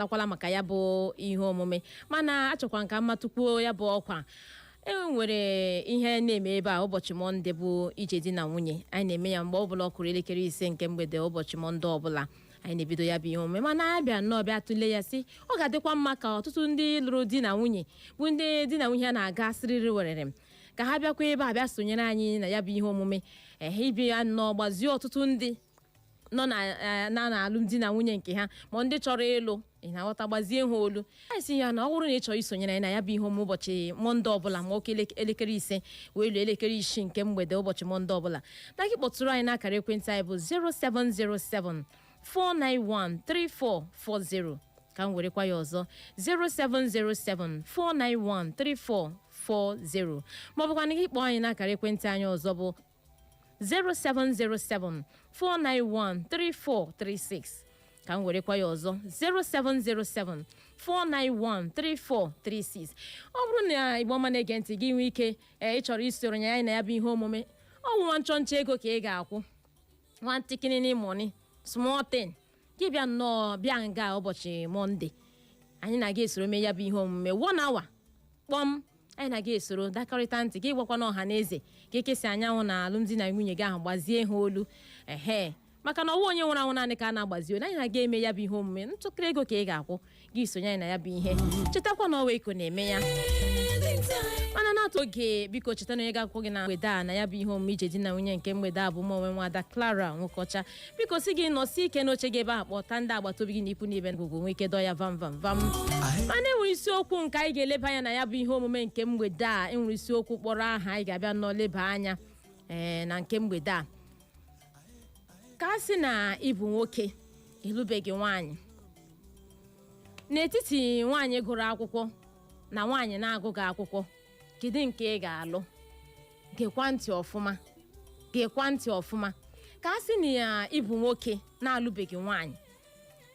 takwala maka ya bụ ihe omume mana achọkwa m ka m matụkwuo ya bụ ọkwa e nwere ihe na-eme ebe a ụbọchị mọnde bụ ije di na nwunye anyị na-eme ya mgbe ọbụla ọ kụrụ elekere ise nke mgbede ụbọchị mọnde ọbụla anyị na-ebido ya bụ ihe omume mana a bịa nnọọ bịa tụlee ya sị ọ ga-adịkwa mma ka ọtụtụ ndị lụrụ di na nwunye bụ ndị di na nwunye a na-aga siriri werere ka ha bịakwa ebe a bịa sonyere anyị na ya bụ ihe omume ehe ị bịa nnọọ gbazie ọtụtụ ndị nọ na eh, na na alụmdi na nwunye nke ha ma ndị chọrọ ịlụ ị na-aghọta gbazie ha olu anyị sị ya na ọ bụrụ na ị chọrọ isonyere anyị na ya bụ ihe omume ụbọchị mọnde ọbụla ma ọ kụọ elek- elekere ise wee luo elekere isii nke mgbede ụbọchị mọnde ọbụla na gị kpọtụrụ anyị n'akara ekwentị anyị bụ 0707 491 3440 ka m werekwa ya ọzọ 0707 491 3440 maọbụkwa na gị kpọọ anyị n'akara ekwentị anyị ọzọ bụ 0707 491 3436 ka m werekwa ya ọzọ 0707 491 3436 ọ bụrụ na Igbo ọma na-ege ntị gị nwee ike ee ị chọrọ isoro ya anyị na ya bụ ihe omume ọ wụ nwa nchọnchọ ego ka ị ga-akwụ nwa ntikini money small thing gị bịa nnọọ bịa nga ụbọchị mọnde anyị na gị esoro mee ya bụ ihe omume one hour kpọm anyị na gị esoro dakọrịta ntị gị gwakwanụ ọha na eze ka eke si anya anwụ na alụmdi na nwunye gị ahụ gbazie ha olu ehe maka na ọ wụghị onye nwụrụ anwụ naanị ka a na-agbazi olu anyị na gị emee ya bụ ihe omume ntụkịrị ego ka ị ga-akwụ gị sonye anyị na ya bụ ihe chetakwa na ọ wụ ego na-eme ya mana n'atụ oge biko cheta na onye ga-akwụkwọ gị na mgbede a na ya bụ ihe omume ije di na nwunye nke mgbede a bụ m onwe nwada Clara Nwokocha biko sị gị nọsie ike n'oche gị ebe a kpọta ndị agbata obi gị na ikwu na ibe ngụgụ nwee ike dọọ ya vam vam vam mana enwere isiokwu nke anyị ga-eleba anya na ya bụ ihe omume nke mgbede a enwere isiokwu kpọrọ aha anyị ga-abịa nnọọ leba anya ee na nke mgbede a ka a sị na ị bụ nwoke ị lụbeghị nwaanyị n'etiti nwaanyị gụrụ akwụkwọ na nwaanyị na-agụghị akwụkwọ kedu nke ị ga-alụ gekwa ntị ọfụma gekwa ntị ọfụma ka a sị na ya ị bụ nwoke na-alụbeghị nwaanyị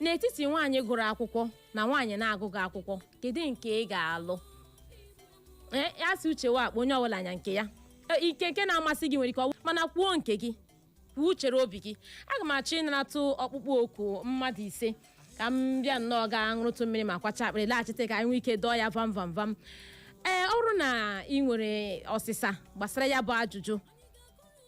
n'etiti nwaanyị gụrụ akwụkwọ na nwaanyị na-agụghị akwụkwọ kedu nke ị ga-alụ Ee, a sị uche wụ akpa onye ọbụla nya nke ya E, ike nke na-amasị gị nwere ike ọwụ mana kwuo nke gị kwuo uchere obi gị aga m achọ ịnaratụ ọkpụkpọ oku mmadụ ise ka m bịa nnọọ gaa ṅụrụtụ mmiri ma kwacha akpịrị laghachite ka anyị nwee ike dọọ ya vam vam vam ee ọ bụrụ na ị nwere ọsịsa gbasara ya bụ ajụjụ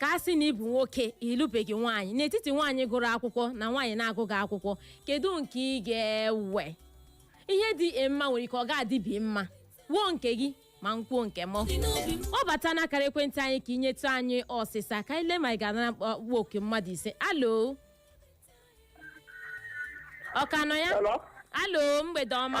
ka a sị na ị bụ nwoke ị lụbeghị nwaanyị n'etiti nwaanyị gụrụ akwụkwọ na nwaanyị na-agụghị akwụkwọ kedu nke ị ga-ewe ihe dị gị mma nwere ike ọ ga-adịghị m mma kwuo nke gị ma m kwuo nke m kpọbata n'akara ekwentị anyị ka i nyetụ anyị ọsịsa ka anyị lee ma ị ga-anara ọkpụkpọ oku mmadụ ise Hello ọ ka nọ ya Hello? Hello mgbede ọma